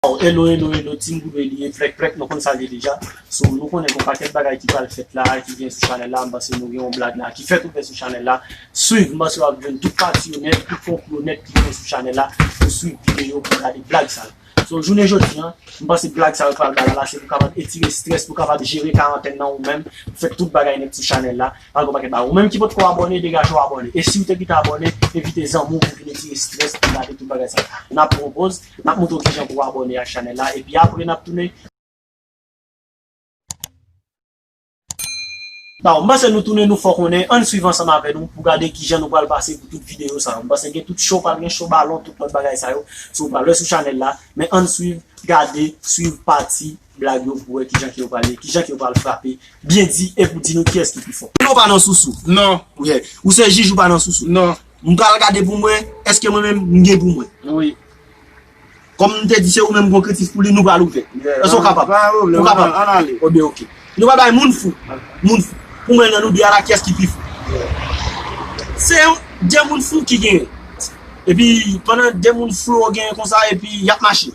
Waww elo elo elo team goudwe li ye plèk plèk nou konn sa l ye deja so nou konnen gon pakèt bagay ki pral fèt la ki gen sou chanèl la m panse nou gen yon blag la ki fèt ouvè sou chanèl la swiv m panse wap jwenn tout pati yo nèt tout konplo yo nèt ki gen sou chanèl la pou swiv videyo pou gade blag sa yo so jounen jodi an m panse blag sa yo pral bay la se pou kapab etire strès pou kapab jere karantèn nan ou menm pou fè tout bagay nèt sou chanèl la pral gon pakèt bagay ou menm ki potko abòne degaje w abòne e siw te pito abòne envite zanmi w pou vin etire strès pou gade tout bagay sa yo nap pran yon poz. Nap montre w kijan pou w abòne ak chanèl la epi apre nap tounen. Bon m'panse nou tounen nou fò konnen ann swiv ansanm avè nou pou gade kijan nou pral pase pou tout videyo sa yo m'panse gen tout show pral gen show balon tout lòt bagay sa yo so pral wè sou chanèl la men ann swiv gade swiv pati Blag yo pou wè kijan ke yo pral ye, kijan ke yo pral frape byen di e pou di nou kiyès ki pi fò. Non ou pa nan sousou. Non. Wi. Ou se jij ou pa nan sousou. Non. M pral gade pou m wè eske mwen menm m gen pou mwen. Wi. Kòm m te di se ou menm gon kritik pou li nou pral ouvè. Yè. Eske ou kapab? Pa gen pwoblèm. Ou kapab? An ale. O ben ok. Nou pral bay moun fou. Moun fou. Pou m wè nan nou 2 a la kiyès ki pi fou. Yè. Se yon 2 moun fou ki genyen. Epi pandan 2 moun fou yo genyen konsa epi y ap mache.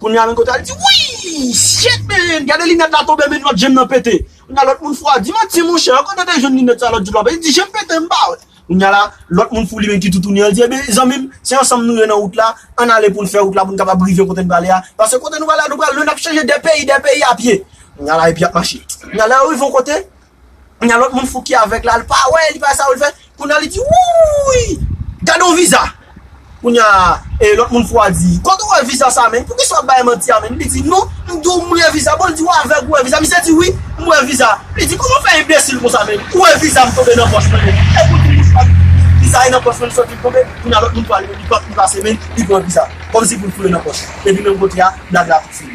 Kounya nan kote al di wouy shit man gade linèt la tonbe men lòt jem nan pete kounya lòt moun fou a di manti monchè ou kote te jwenn linèt sa lòt di lwa pete li di jem pete mpa wè kounya la lòt moun fou li menm ki toutouni an li di ebyen zanmim se ansanm nou ye nan wout la ann ale poun fè wout la poun kapab rive kote nou prale a paske kote nou prale a nou pral lwen nap chanje de peyi de peyi a pye kounya la epi yap mache kounya lè yo rive yon kote Kounya lòt moun fou ki avèg la li pa wè, li pa sa pou li fè. Kounya li di wouyy gade yon viza. Kounya lòt moun fou a di kote ou wè viza sa menn, poukisa wap bay manti a menn. Li di non m di w m wè viza, bon li di ou avèg ou wè viza. Misye di wi m wè viza. Li di kòman w fè enbesil konsa menn, ou wè viza m tonbe nan pòch mwen menn. Epi ou di m bouch pa di viza e nan pòch mwen li sòti li tonbe. Kounya lòt moun fou a li menm li pran pli pase menn, li pran viza kòmsi pou l foure nan pòch. Epi menm kote a blag la fini.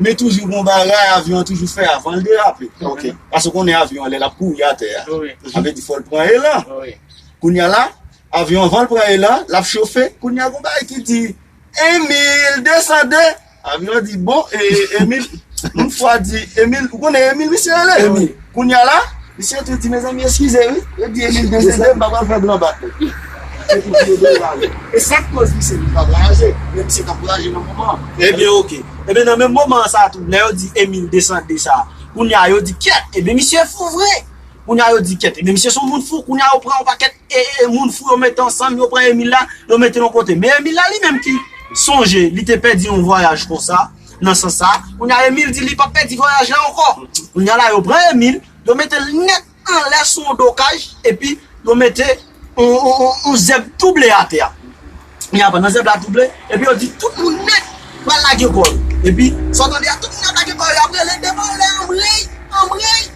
Men toujou gon bagay avyon an toujou fè avan l derape. Ok. Pase ou konnen avyon an lè l ap kouri atè a. Wi. Sa vle di fò l pran elan. Wi. Kounye a la, avyon an avan l pran elan, l ap chofe. Kounye a gon bagay ki di, Emil, desande! Avyon an di, bon, e, Emil, m fwa di, Emil, ou konnen Emil misye rele? Emil. Kounya la misye tou di mezanmi eskize wi yo di Emil desede m pa pral fè blan bat li se pou vye dèy la wi e sak koz misye vin pa vwayaje men misye tap vwayaje nan moman an ebyen ok ebyen nan menm moman an sa tou lè yo di Emil desande sa kounya yo di kyèt ebyen misye fou vre kounya yo di kyèt ebyen misye son moun fou kounya yo pran yon pakèt ee moun fou yo mete ansanm yo pran Emil la yo mete l yon kote men Emil la li menm ki sonje li te pèdi yon vwayaj konsa. nan sans sa. Kounye a Emile di li pap pèdi vwayaj la ankò. Kounye a la yo pran Emile, yo mete l nèt anlè sou yon do kaj epi yo mete yon zèb tou ble atè a. Kounye a pandan zèb la tou ble, epi yo di tout moun nèt pral lage kò yo. Epi sa w tande a tout moun ap lage kò yo, y ap rele devan anlè anmreyy, anmreyy.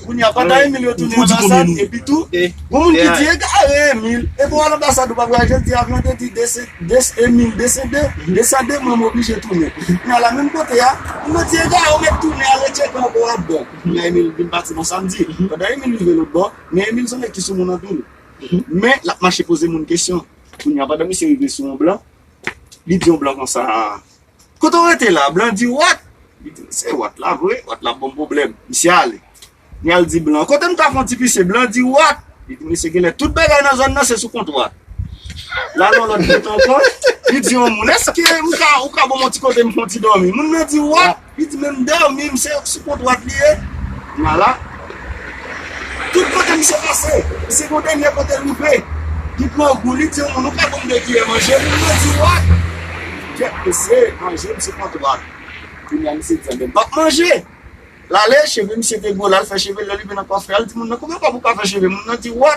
Kounye a, pata Emil yo tounen anbasad, epi tou, gon moun ki di egare Emil, epi w al anbasad ou pa vwayaje, l di avyon an te di Emil desede, desande mwen m oblije tounen. Kounye a la menm kote a, moun nan di egare ou mèt tounen ale tcheke anko w ap bon. Kounye a Emil vin pati nan samdi. Pandan Emil rive lotbò, men Emil son nèg ki sou moun anpil. Men, l ap mache poze moun kesyon. Kounye a, pandan misye rive sou yon blan, li di yon blan konsa. Kote w rete la? Blan di, Wat? Li di, Se Wat la vre. Wat la ap ban m pwoblèm. Misye ale. Li al di blan an, Kote m ka fon ti pise? Blan an di, Wat? Li di, Mesye, genlè tout bagay nan zòn nan se sou kont Wat. L al yon lòt bout ankò, li di yon moun, Èske m ka, ou ka ban m yon ti kote m fon ti dòmi? Moun nan di, Wat? Li di, Men m dòmi m, se sou kont Wat li ye. Kounye a la. Tout kote misye pase, misye gen yon dènyè kote l rive, li pran yon gou, li di yon moun ou ka ban m 2 kiyè manje, moun nan di wa, kèt mesye, manje misye pran dwat, kounye a misye di anben m p ap manje, l ale, cheve misye te gwo, l al fè cheve l, lè l rive nan kòfè a, l di moun nan konbyen fwa pou w ka fè cheve m, moun nan di wa.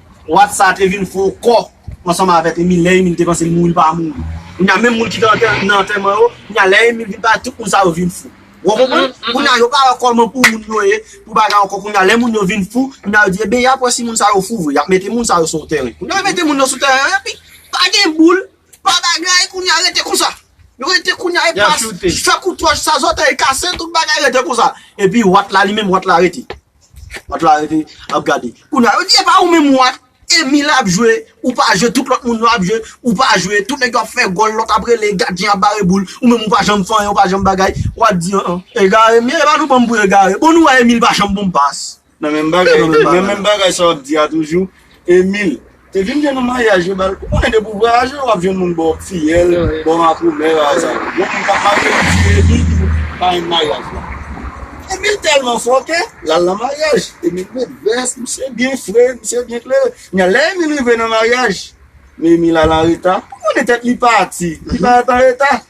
Wat sa te vin fon kò ansanm avèk Emil lè Emil te panse l mouri l pa mouri kounye a menm moun ki te nan antèman yo kounye a lè Emil vin pale tout moun sa yo vin fou wou konprann kounye a yo pa wè kòman pou moun yo ye pou bagay ankò kounye a lè moun yo vin fou kounye a yo di eben yap wè si moun sa yo fou vre yap mete moun sa yo sou tèren kounye a yo mete moun yo sou tèren an epi pa gen boul pa bagay kounye a rete konsa yo rete kounye a epi fè kout wòch sa zòtèy kase tout bagay rete konsa epi wat la li menm wat la rete. Lòt la rete ap gade. Kounya yo di epa ou menm ou ak Emile ap jwe ou pa jwe tout lòt moun yo ap jwe ou pa jwe tout nèg yo ap fè gòl lòt ap rele gadyen ap bare boul ou menm ou pa janm fè anyen ou pa janm bagay wap di an an. Egare men epa nou banm pou egare bon nou wè Emile pa janm bon pas. Nan menm bagay sa wap di a toujou Emile. Te vin gen nou maryaj yo bal. Ou konnen depi ou vwayaje wap jwenn moun bò fiyèl, bò makomè a sa yo. Gen moun kap marye li di Emil ki pou parenn maryaj la. Emil tèlman fò ke lal nan maryaj. Emil met vès, misye byen fre, misye byen klere. Kounya lè Emil rive nan maryaj, men Emil al anreta. Ou konnen tèt li pati, li parèt anreta.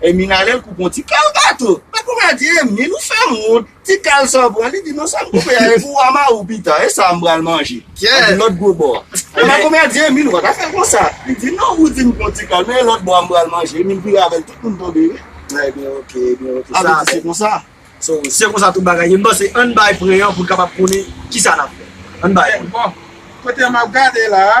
Hermine a lèl koupe yon ti kal gato. Makomè a di Hermine ou fèm wont, ti kal sa w pran, li di non sa m koupe a e pou wa mare w pita, e sa m pral manje. An di lòt gwo bò a. Makomè a di Hermine ou pa ta fè konsa, li di non ou di m pran ti kal men e lòt bò a m pral manje, Hermine vire avèl tout moun tonbe ri. Ebyen ok, ebyen ok, sa a fèt. Se konsa. So se konsa tout bagay ye, m panse ann bay pren an pou n kapab konnen kisa n ap fè. Ann bay pren. Bon, kote m ap gade la a.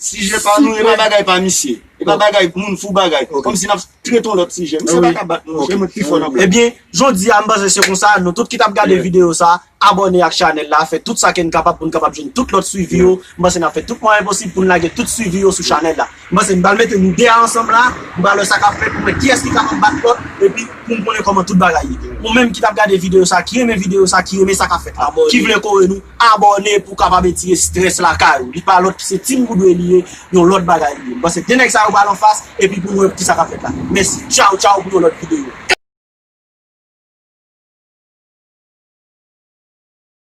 Sijè pa nou e pa bagay pa misye. E pa bagay moun fou bagay. Kòm si nap trete yon lòt sijè. Misye pa ka bat nou. Misye mwen pi fò nan blag. Ebyen, jodi a m panse se konsa, nou tout ki tap gade videyo sa, abòne ak chanèl la, fè tout sa ke n kapab pou n kapab jwenn tout lòt swivi yo. M panse nap fè tout mwayen posib pou n lage tout swivi yo sou chanèl la. M panse m pral mete nou 2 a ansanm la, m pral wè sa kap fèt pou m wè kiyès ki kapab bat lòt epi pou m konnen kòman tout bagay ye. Ou menm ki tap gade videyo sa, ki renmen videyo sa, ki renmen sa kap fèt la, ki vle kore nou, Abòne pou w kapab etire strès lakay ou. Li pa lòt ki se Team Woodway li ye, yon lòt bagay li ye. M panse 2 nèg sa yo pral anfas epi pou nou wè kisa k ap fèt la. Mèsi. Tchaw tchaw pou yon lòt videyo.